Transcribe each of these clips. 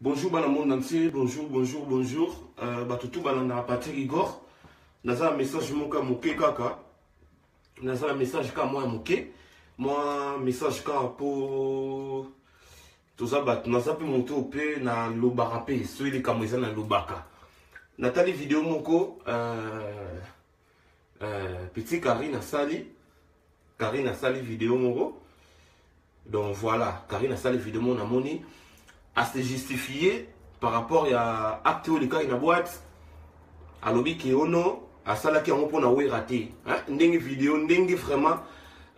bonjour bana monde entier bonjour bonjour bonjour euh, bato tu balandaka patrick igor naza na message moko ya moke kaka naza na message kaka mwa ya moke mwa message kaka mpo toza bato naza mpe moto oyo mpe nalobaka mpe soki likambo eza nalobaka natali video moko euh, euh, petit carine asali carine asali video moko donc voilà carine asali video moko namoni ase justifie par rapport ya acte oyo likaki na boite alobi ke ono asalaki yango mpo na wera te ndenge video ndenge vraiment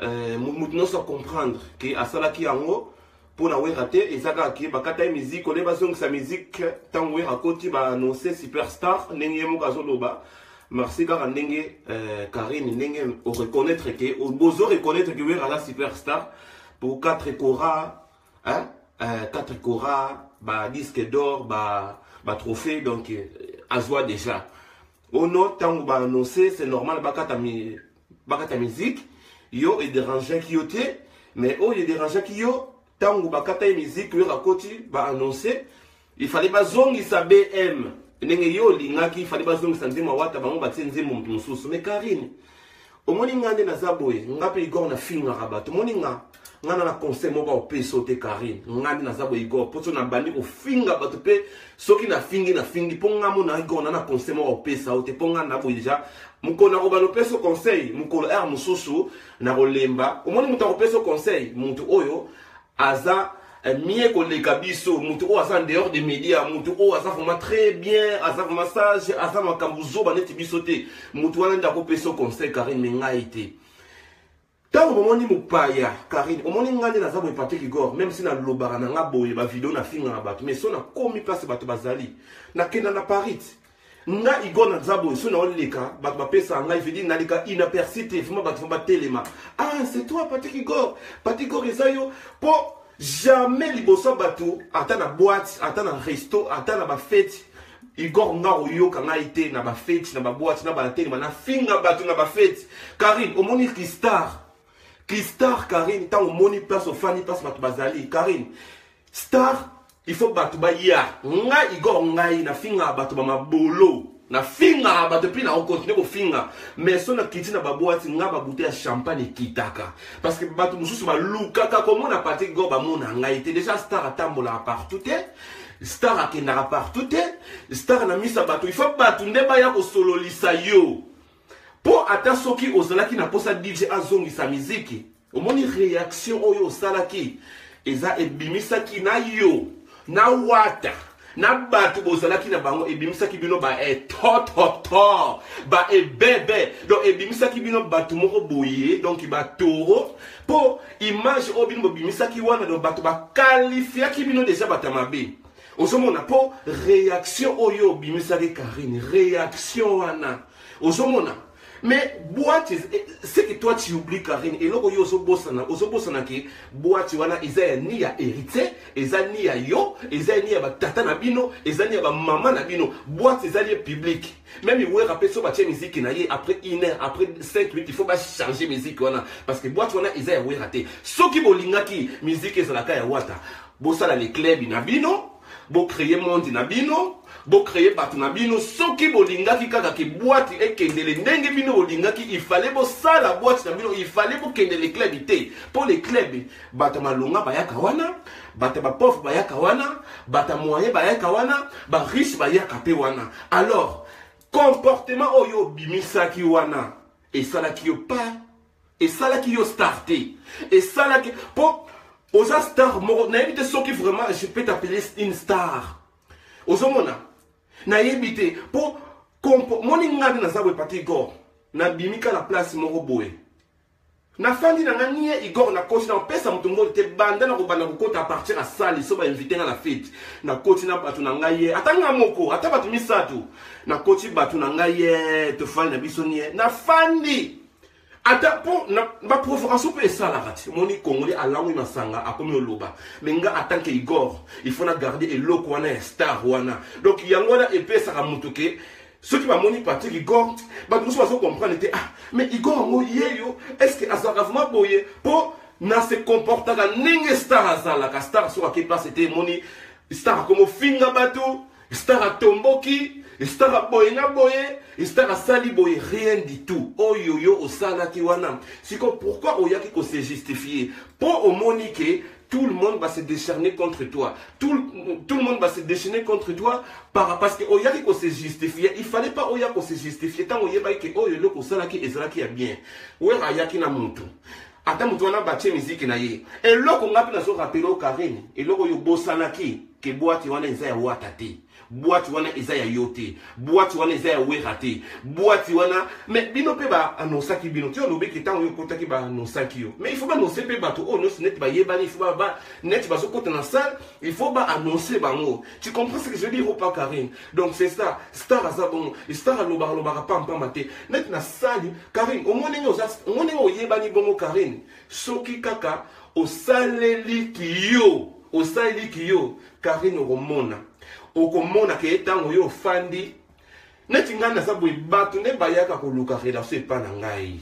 euh, moto nyonso acomprendre ke asalaki yango mpo na wera te eza kaka ke bakata ye miziki ole bazongisa miziki ntango wera akoti baannonce superstar ndenge ye moko azoloba merci kaka ndenge euh, karine ndenge oreconnaitre ke bozo reconnaitre ke wera aza superstar mpo 4 cora hein? Euh, 4 cora badisque d'or batrophée ba donc euh, azwa déjà ono ntango baannonce c'est normal bakata bakata musique yo ederangeaki yo te mais oyo oh, ederangeaki yo ntango bakata ye musique oyo akoti baannonce ifale bazongisa bm ndenge yo olingaki ifale bazongisa nzembo awata bango batie nzembo moto mosusu mais karine omoni nga nde naza boye nga mpe igor nafingaka bato omoni nga nga na conseil moko opesi yo te karine nga nde naza boye igor mpo so nabandi kofinga bato mpe soki nafingi nafingi mpo nga mona igor na na conseil moko opesa yo te mpo nga na boye deja mokolo nakobanda opesa yo conseil mokolo r mosusu nakolemba omoni moto akopesa yo conseil moto oyo aza eh, mie koleka biso moto oyo aza dehors de média moto oyo aza vraiment très bien aza vraiment sage aza makambo zoba neti biso te moto wana nde akopesa yo conseil karine me ngai te Tango bomoni mopaya Karine, omoni nga nde naza boye Patrick Igor, même si nalobaka na nga boye ba video na finga na bato, mais so nakomi place bato bazali, nakenda na Paris. Nga Igor naza boye, so naoleka bato bapesa ngai vidi naleka inaperçu te, vraiment bato vraiment batelema. Ah, c'est toi Patrick Igor. Patrick Igor eza yo po jamais liboso bato ata na boîte, ata na resto, ata na ba fete igor nga oyoka ngai te na bafeti na babwati na batelema nafinga bato na bafeti karine omoni kistar kistar karine ntango omoni place ofandi place bato bazali karine star il faut bato baya nga igor ngai nafingaka bato bamabolo nafingaka bato mpe nakokontinue kofinga mais so nakiti na babwati nga babute ya champagne ekitaka parce que bato mosusu balukaka komona patrik go bamona ngai te deja star atambolaka partout te star akendaka partout te star na misa bato ifa bato nde baya kosololisa yo mpo ata soki ozalaki na mposa dj azongisa miziki omoni reaction oyo osalaki eza ebimisaki na yo na wata na bato bozalaki na bango ebimisaki bino baetototo baebebe donc ebimisaki bino bato moko boye donc batoro mpo image oyo bino bobimisaki wana donc bato bakalifiaki bino deja bato ya mabe ozomona mpo réaction oyo obimisaki karine réaction wana ozomona mais boite eh, ce que toi tu oublie karine eloko yo ozobosana ozobosana ke boite wana eza ya ni ya héritier eza ni ya yo eza ni ya batata na bino eza ni ya bamama na bino boite ezali ye publique Meme Werra pe so batie musique na ye après une heure, après 5 minutes, il faut ba changer musique wana parce que boîte wana eza ya Werra te. Soki bolingaki musique ezalaka ya Wata, bosala le club na bino, bo créer monde na bino, bo créer bato na bino. Soki bolingaki kaka ke boîte ekendele ndenge bino bolingaki, il fallait bosala boîte na bino, il fallait bokende le club te. Po le club bato malonga bayaka wana. bata ba pauvre bayaka wana bata moyen bayaka wana ba riche bayaka mpe wana alors comportement oyo obimisaki wana esalaki yo pas esalaki yo star te esalaki mpo oza star moko nayebi te soki vraiment je peux t'appeler une star ozomona nayebi te mpo moni ngai naza boye pati gor nabimi kala place moko boye Na fandi na nga nie Igor na koti na pesa moto ngoli te banda na kobanda kokota a partir ya sali so ba invite nga na fete na koti na bato na ngai ye ata nga moko ata bato misato na koti bato na ngai ye tofali na biso nie na fandi ata mpo na baprovocation mpe esalaka te moni congolais alangwi masanga akomi oloba me nga atant que igor il faut na garde eloko wana ya star wana donc yango wana epesaka moto ke soki bamoni patrik igor bato mosusu bazo comprendre te ah mais igor yango ye yo est ce que azalaka vraimen boye mpo na se comportaka ndenge star azalaka star soki ake place te emoni star akomofinga bato star atomboki estara boye na boye estara asali boye rien du tout oyo yo osalaki wana siko pourkui oyaki kose justifie mpo omoni ke tout le monde va se décerner contre toi. Tout, tout le monde va se déchaîner contre toi par, parce que Oyaki oh, qu'on se justifier. Il fallait pas Oya oh, qu'on se justifier. Tant Oya que Oyo le kosala qui ezala qui est bien. Ouera Ayaki na mutu. Ata mutu wana batie musique na ye. Et loko ngapi na so rappelé au Karine. Et loko yo bosanaki. Ke boati wana eza ya wata te. boite wana eza ya yo te boite wana eza ya wera te boite wana me bino mpe baanonsaki bino ti olobeki ntango yo okotaki baanonsaki yo mais il faut baanonse mpe bato oyo nyonso neti bayebani il faut neti bazokota na salle il faut baanonse bango tu comprends ce que je veux dire opa karine donc c'est ça star aza bongo star alobaka lobaka pampama te neti na sali karine omoni ndenge oyebani bongo karine soki kaka osaleli kiyo osaleli kiyo Karine okomona okomona ke ntango yo ofandi neti ngai naza boye bato nde bayaka koluka relation epa na ngai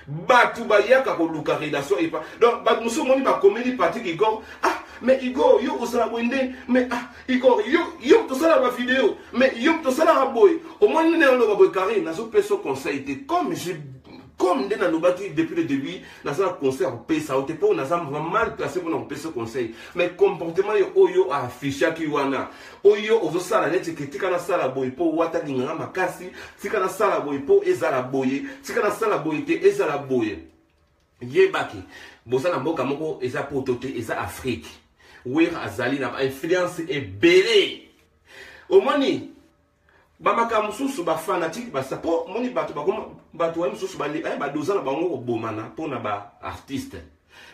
bato bayaka koluka relation epa donc bato mosusu omoni bakomeli patrik igor ah mais igor yo ozala boye nde mais ah igor yo yo tosala bavideo mais yo tosalaka boye omoni nde oloba boye karine nazopesa conseil te comme je comme nde nalobaki depuis le début naza na conseil ya kopesa yo te mpo naza mal placé mpona kopesa conseil mais comportement yo oyo affichaki wana oyo ozosala neti ke tika nasala boye mpo wata linganga makasi tika nasala boye mpo ezala boye tika nasala boye te ezala boye yebaki boza na mboka moko eza poto te eza afrique wer azali na bainfluence ebele omoni bamakambo mosusu bafanatike basa mpo moni bato bakoma bato waye mosusu eh, badoza na bango kobomana mpo na baartiste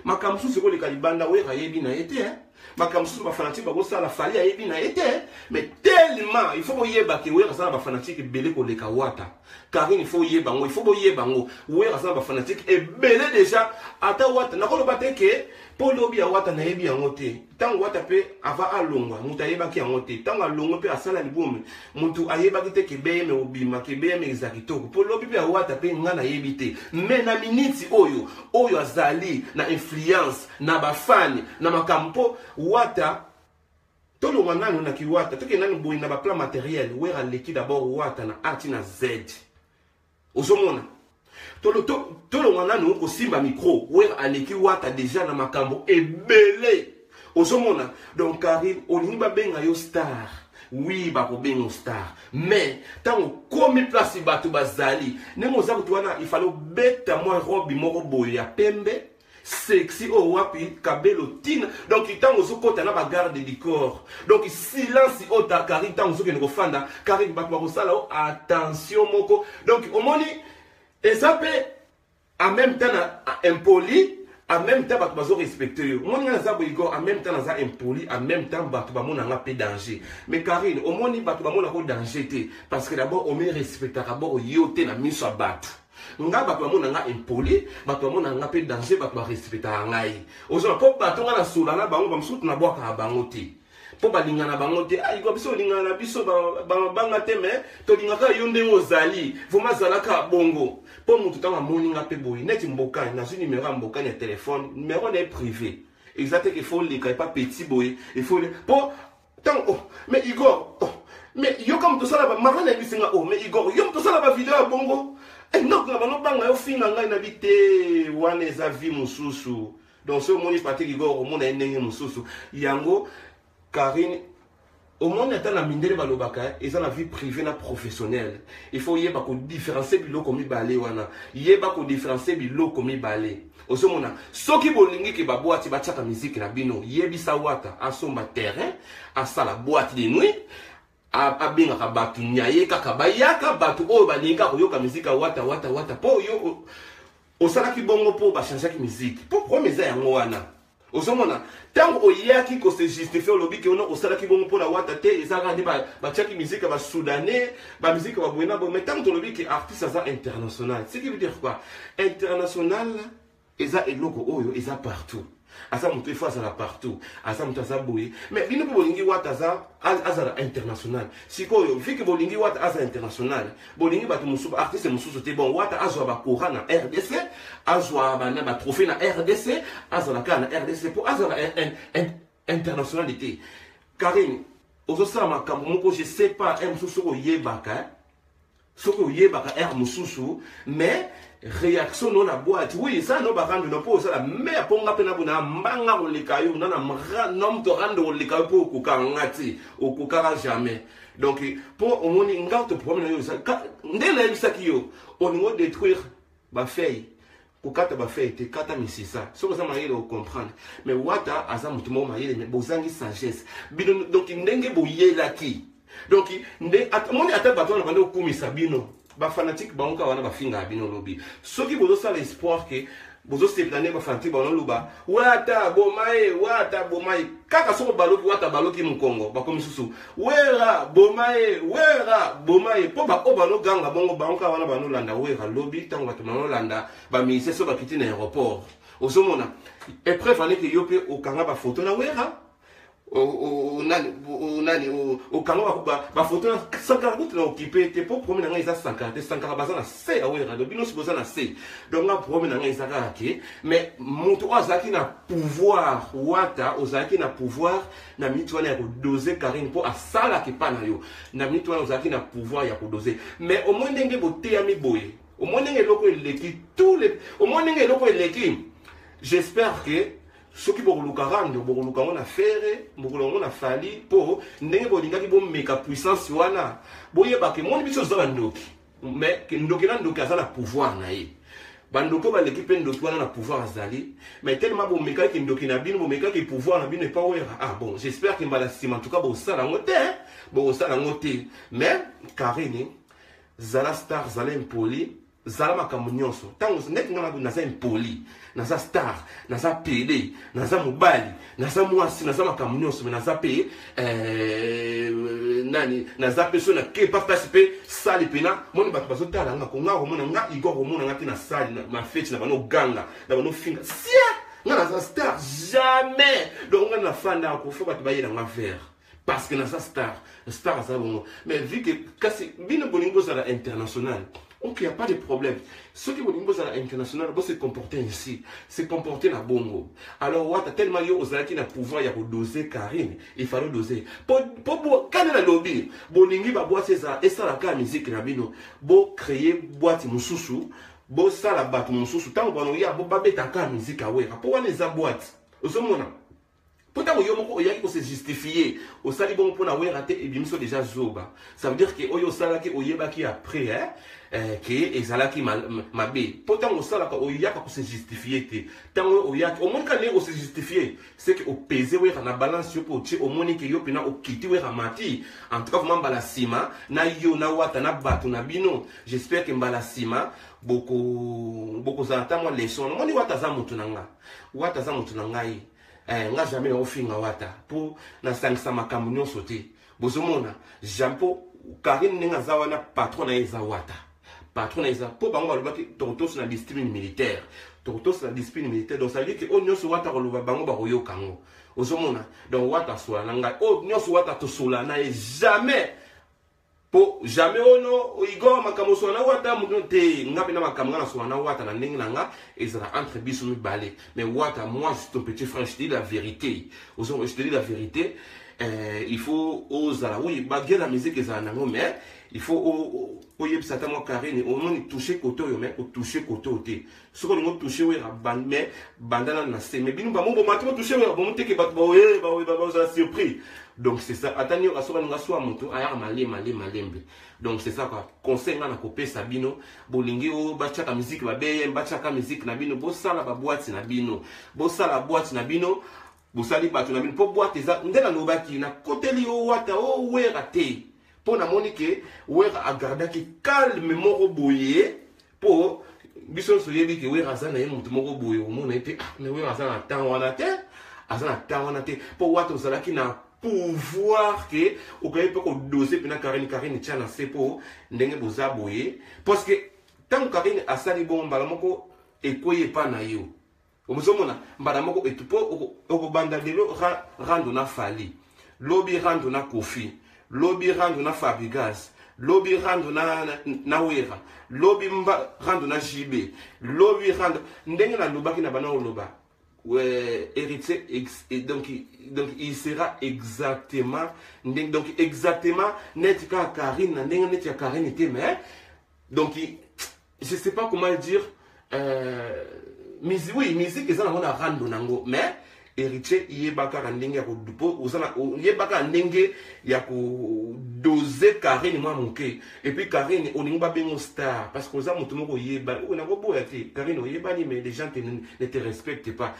makambo mosusu ekoleka libanda oyo ayebi na ye te eh. makambo mosusu bafanatike bakosala fali ayebi na ye te eh. mais tellement il faut boyeba ke wera aza na bafanatike ebele koleka wata karine il faut oyeba yango il faut boyeba yango wera aza na bafanatike ebele déjà ata wata nakoloba te ke mpo lobi ya wata nayebi yango te ntango wata mpe ava alongwa moto ayebaki yango te ntango alongwe mpe asala libomi moto ayebaki te kebeyeme obima kebeyeme eza kitoko mpo lobi mpe awata mpe ngai nayebi te me na miniti oyo oyo azali na influence na bafani na makambo mpo wata tolongwa nanu na kiwata tokende nanu boye na baplan materiel were aleki dabord wata na a ti na z ozomona tolongwa nanu kosimba micro wer aleki wata deja na makambo ebele ozomona donc karine olingi babenga yo star wi bakobenga star mais ntango okomi place bato bazali ndenge oza kutu wana ifale obeta mwa robi moko boye ya pembe sexy oyo oh, wapi kabelo tina donc ntango ozokɔta na bagarde du corps donc silence oyo oh, ta kari ntango ozokende kofanda kari bato bakosala o oh, attention moko donc omoni eza mpe en même temps na impoli en même temps bato bazorespecte yo omoni ngai naza boigor en même temps naza impoli en même temps bato bamona nga mpe danger mais karine omoni bato bamonako danger te parce que d'abord omerespectaka bord yo te na miso ya bato nga bato bamona nga impoli bato bamona nga mpe danger bato barespectaka ngai ozona mpo bato nga nasola na bango bamosusu nabwakaka bango te mpo balingana bango te ayika ah, biso olingana na biso bamabanga te me tolingaka yo ndenge ozali vraimen azalaka bongo mpo motu ntango amoni nga mpe boye neti mbokani nazwi nimero ya mbokani ya telefone nimero na ye privé eza te ke fo oleka epa petit boye efo mpo Tant oh, mais Igor, oh, mais yo comme tout ça là, maman n'a mis oh, mais Igor, yo tout ça là, vidéo à bongo. Et non, na bango banga yo finga ngai na bite, wana eza vie mususu. Donc ce moni Patrick Igor, omona ye ndenge mususu. Yango Karine omoni ata na mindele balobaka eza na vie privée na professionnelle il faut yeba kodifférencie biloko mibale wana yeba kodifférencie biloko mibale ozomona soki bolingi ke babwati batiaka miziki na bino yebisa wata asomba terrain asala bwati de nuit abengaka bato nyaye kaka bayaka bato oyo balingi akoyoka miziki ya wata wata wata mpo yo osalaki bongo mpo bachangeaki miziki mpo problème eza yango wana ozomona ntango oyaki ko se justifie olobi ke ono osalaki bongo mpo na wata te eza kaka nde batiaki miziki ya basudanais bamiziki ya baboye na boye mai ntango tolobi ke artiste aza international ce qui veut dire quoi international eza eloko oyo eza partout aza moto ifo azala partout aza moto aza boye mais bino mpe bolingi wata aza azala international sikoyo vike bolingi wata aza international bolingi bato mosusu baartiste mosusu te bon wata azwa bakora na rdc azwa bana batrophée na rdc azala kaka na rdc mpo azala internationale te karine ozosala makambo moko je sais pas r mosusu soki oyebaka soki oyebaka r mosusu mais réaction no na boîte oui esa no barandu no mpo osala me aponga mpe nabona mbanga koleka yo nana mra nom torando koleka yo mpo okokanga te okokaka jamais donc mpo omoni nga to problème na yo eza nde nayebisaki yo olingi odétruire bafeuille kokata bafeuille te kata misisa soki oza mayele ocomprendre mais wata aza moto moko mayele mais bozangi sagesse bino donc ndenge boyelaki donc nde moni ata bato wana bandi okumisa bino ba fanatique bango kaka wana bafingaka bino lobi soki bozosala espoir ke bozosepela nde bafanatique bango naloba wata aboma ye wata aboma ye kaka soko baloki wata baloki mokongo bakomi susu wera boma ye wera boma ye mpo baoyo banoganga bongo bango kaka wana banolanda wera lobi ntango bato banolanda baministre so bakiti na aéroport ozomona epreuve aneke yo mpe okanga bafoto na wera nani nani okanga bafoto na sankara kutu na okipe te mpo probleme na ngai eza sankara te sankara baza na se ya werado bino nyonso boza na se donc nga probleme na ngai eza kaka ke mais moto oyo azalaki na pouvoir wata ozalaki na pouvoir na minute wana ya kodose karine mpo asalaki pa na yo na minute wana ozalaki na pouvoir ya kodose mais omoi ndenge boteyami boye omoi ndenge eloko eleki tous les omoi ndenge eloko eleki j'espère que soki bokoluka rando bokoluka yango na fere bokoluka yango na fali mpo ndenge bolingaki bomeka puissance wana boyebaka emoni biso oza na ndoki mais ndoki na ndoki aza na pouvoir na ye bandoki baleki mpe ndoki wana na pouvoir azali mais telema bomekaki ndoki na bino bomekaki pouvoir na bino epa wera ah bon j'espère ke mbala nsima ntuka bosala yango te bokosala yango te mais karine zala star zala impoli zala makambo nyonso ntango ndeti nga nakuti naza impoli naza star naza pede naza mobali naza mwasi naza makambo nyonso me naza mpe eh, nani naza mpe so nakepa mpasi mpe sali mpena moni bato bazotala nga konga komona nga igor komona nga te na sali mafeti na bano ganga na bano finga sia nga naza star jamais donc nga nafanda kofa bato bayela nga vere parce que naza star star aza bongo mais vu que kasi bino bolingi bozala international ok il n'y a pas de problème soki bolingi bozala international bo se comporter ainsi se comporter na bongo alors wata tellement yo ozalaki na pouvoir ya kodose karine il fallait dose po kani na lobi bolingi babwasi ezala esalaka miziki na bino bo créer bwati mosusu bosala bato mosusu ntango banoya babetaka miziki awera mpo wana eza bwati ozomona mpo ntango yo moko oyaki kose justifie osali bongo mpo na wera te ebimiso deja zoba ça veut dire ke oyo osalaki oyebaki après hein? eh, ke ezalaki mabe mpo ntango osalaka oyaka kose justifie te ntango yo oyaki omoni ka ndenge ose justifie seke opese wera na balance yo mpo otie omoni ke yo mpena okiti wera mati en tout cas vraimen mbala nsima na yo na wata na bato na bino j'espère ke mbala nsima bokozala boko ntango ya leson omoni wata aza moto na ngai wata aza moto na ngai eh, nga jamais nakofinga wata mpo nasangisa makambo nyonso te bozomona jam mpo karine ndenge aza wana patron na ye eza wata patron na ye eza mpo bango balobaki tokotosi na discipline militaire tokotosi na discipline militaire donc sadire ke oyo nyonso wata koloba bango bakoyoka yango ozomona donc wata asola na ngai oyo nyonso wata tosola na ye jamais po jamais ono igor makambo oswana na wata moto te nga mpe na makambo nga naswana na wata na ndenge na nga ezala entre biso mibale mais wata moi je ton petit frère je te dis la vérité je te dis la vérité euh, il faut ozala oui baguer la musique ezala nango mais il faut oyebisa ata mwa karine omoni touche kote oyo mais otouche kote oyo te soki olingi otouche wera mais banda nanu na se mais bino bango bomati botouche wera bomo teke bato baoye baoye bazala surpris donc c'est ça ata nioka soki alinga swa moto ayaka malembe malembe malembe donc c'est ça quoi conseil ngai nakopesa bino bolingi oyo batiaka miziki babeye batiaka miziki na bino bosala babwati na bino bosala bwati na bino bosali bato na bino mpo bwate eza nde nalobaki nakoteli yo wata o oh, wera te mpo namoni ke wera agardaki calme moko boye po biso nyonso oyebi ke wera aza na ye moto moko boye omona ye te ah, me wera aza na temps wana te aza na temps wana te mpo wata ozalaki na pouvoir ke okoki mpe kodose mpena karine karine tya na se mpo ndenge boza boye parce que ntango karine asali bongo mbala moko ekwei epa na yo omozomona mbala moko etu mpo okobanda lelo rando na fali lobi rando na kofi lobi rando na fabrigas lobi rando na, na, na wera lobi mba, rando na jb lobi rando ndenge nalobaki na bana oloba euh, héritier ex, et donc, donc il sera exactement ndenge, donc exactement neti kaka karine na ndenge neti ya karine te mais donc je sais pas comment dire euh, musique oui musique eza nango na rando nango mais héritier yeba kaka ndenge ya kodupo ozana yeba kaka ndenge ya kodose carine mwa moke epuis carine olingi babengo star parce que oza moto moko oyeba nakoboya te carine oyebani mais les gens te, ne te respecte pas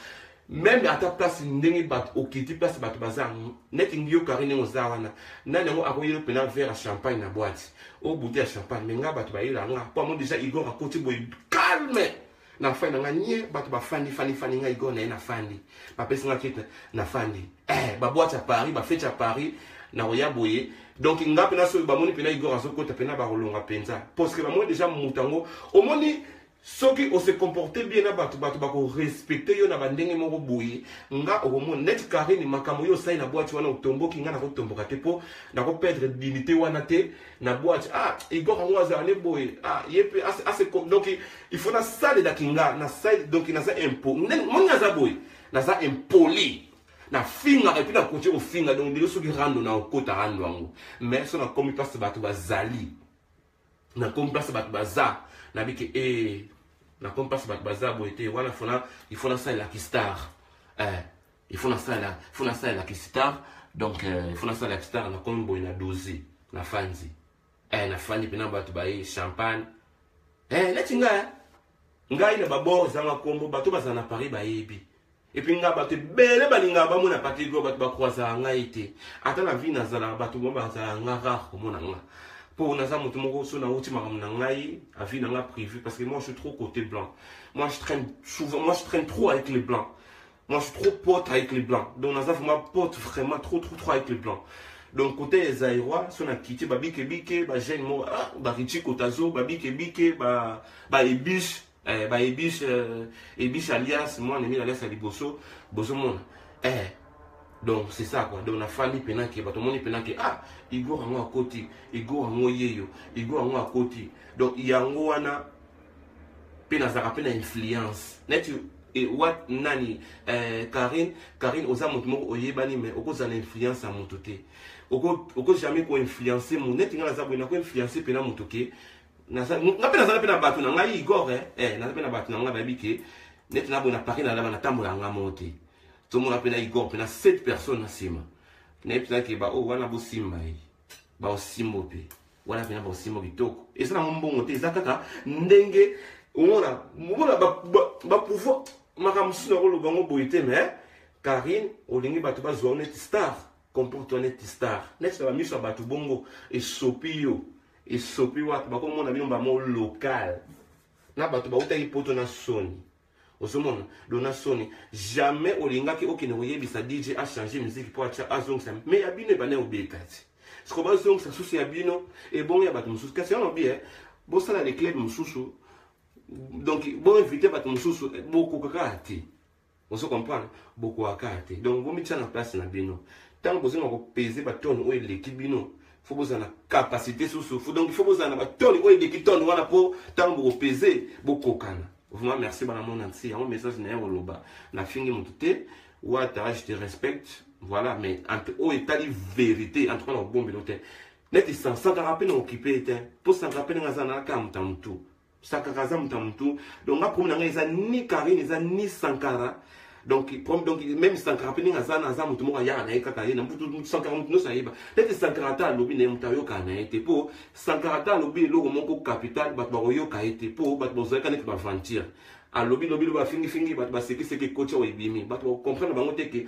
meme ata place ndenge bato okiti place bato baza neti ngi yo kari ndenge oza wana nani yango akoyela mpena verre ya champagne na boite o bute ya champagne me nga bato bayela nga mpo yango deja igor akoti boye calme na fani na nga nie bato bafandi fandi fandi nga igor na ye nafandi bapesi nga kite nafandi eh, baboite ya paris bafete ya paris nakoya boye donc nga mpena soki bamoni mpena igor azokota mpena bakolonga mpenza parceke bamoni deja moto yango omoni soki o se comporter bien na bato bato bako respecter yo na ba ndenge moko boye nga okomona net Karine makambo yo osali na boîte wana otomboki nga nako tomboka te po nako perdre dignité wana te na boîte ah Igor yango azala ne boye ah ye pe ase donc il faut na salela kinga na sali donc naza impo moni naza boye naza impoli na fingaka epuis nakoki kofinga donc ndenge soki rando na okota rando yango mais so nakomi mpasi bato bazali na comme place bato baza na bike e eh, na comme place bato baza boye te wana fona il faut nasalela kistar eh, il faut nasalela il faut nasalela kistar donc eh, il faut nasalela kistar na comme boye na doze na fanzi eh, na fandi mpena bato baye champagne eh, neti ngai ngai na babor ezanga nkombo bato bazala na paris bayebi epuis nga bato ebele balingaka bamona patrick oyo bato bakwazaka ngai te ata na vie nazalaka bato mo bazalaka nga rare komona nga mpo naza moto moko so nauti makambo na ngai avi na nga privé parce que moi je suis trop côté blanc moi je traîne souvent moi je traîne trop avec les blancs moi je suis trop pote avec les blancs donc naza vraiment pote vraiment trop trop trop avec les blancs donc côté ya zaïrois so na kiti babikebike bagene moko ah, barichi kotazo babikebike baebiche ba eh, ba ebis euh, ebis alias moi nemi alias ya liboso bozomona eh, donc c'est ça quoi donc nafandi mpena ke bato omoni mpena ke ah igor yango akoti igor yango yeyo igor yango akoti donc yango wana mpe nazalaka mpe na influence neti e, wat nani eh, karine karine oza moto moko oyebani mais okozala na influence ya moto te oko jamais koinfluence moto neti ngai naza boye nakoinfluence mpena moto ke nga mpe nazala mpe na bato na ngai igor eh, eh, naza mpe na bato na ngai bayebi ke neti naboye na paris nalaba natambola nga moko te tomona mpe na igor mpe na 7 personne na nsima nayebi mpenza ke baoyo oh, wana bosimba ye baosimbo mpe wana mpenza baosimbo kitoko eza nango mbongo te eza kaka ndenge omona omona bapouvoir makambo mosusu nakoloba yango boye te me karine olingi bato bazwa neti star comporte neti star neti na bamiso ya bato bongo esopi yo esopi wapi bakomona bino bamo local na bato bautaki poto na soni ozomona do na soni jamais olingaki okende koyebisa dj achange miziki mpo atya azongisa me ya bino ebanda kobeta ti siko bazongisa susu ya bino ebongo ya bato mosusu kasi yango bie bosala leclub mosusu donc boinvite bato mosusu bokokaka te ozo comprendre bokoaka te donc bomitia na place na bino ntango bozonga kopeze batone oyo eleki bino fo bozala na capacité susu fo donc fo bozala na batone oyo eleki tone wana mpo ntango bokopeze bokokana vraiment merci bana mona nsi yango message na ye koloba nafingi motu te wata je te respecte voilà mais oyo etali vérité en tout cas na kobombelo te neti sansantaka mpe na okipe ye te mpo sankara mpe ndenge aza na kaka moto ya motu sakaka aza moto ya motu donc nga problème na ngai eza ni karine eza ni sankara donc donc même sankara mpe ndenge aza na aza moto moko ayaka na ye kaka ye na mbutu sankara moto nyonso ayeba neti sankara ata alobi na ye moto ayokaka na ye te mpo sankara ata alobi eloko moko capital bato bakoyoka ye te mpo bato bazalaka neti baventure alobi lobi lobi afingifingi bato basekiseki kotya oyo ebimi bato bakokomprendre bango te ke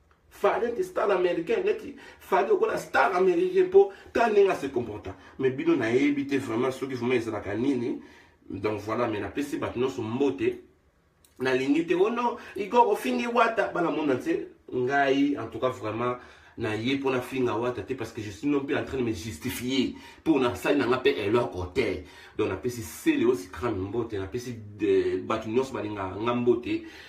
fali neti star américain neti fali lokola star américain mpo ta ndenge ase comporta mais bino nayebi te vraiment soki vraiment ezalaka nini donc voilà mais napesi bato nyonso mbote nalingi te ono oh igor ofingi wata bana mona te ngai en tout cas vraiment naye mpo nafinga wata te parce que je suis non mpe en train de me justifier mpo nasali nanga mpe eloko te donc napesi sele osi crame mbote napesi bato nyonso balingaka nga mbote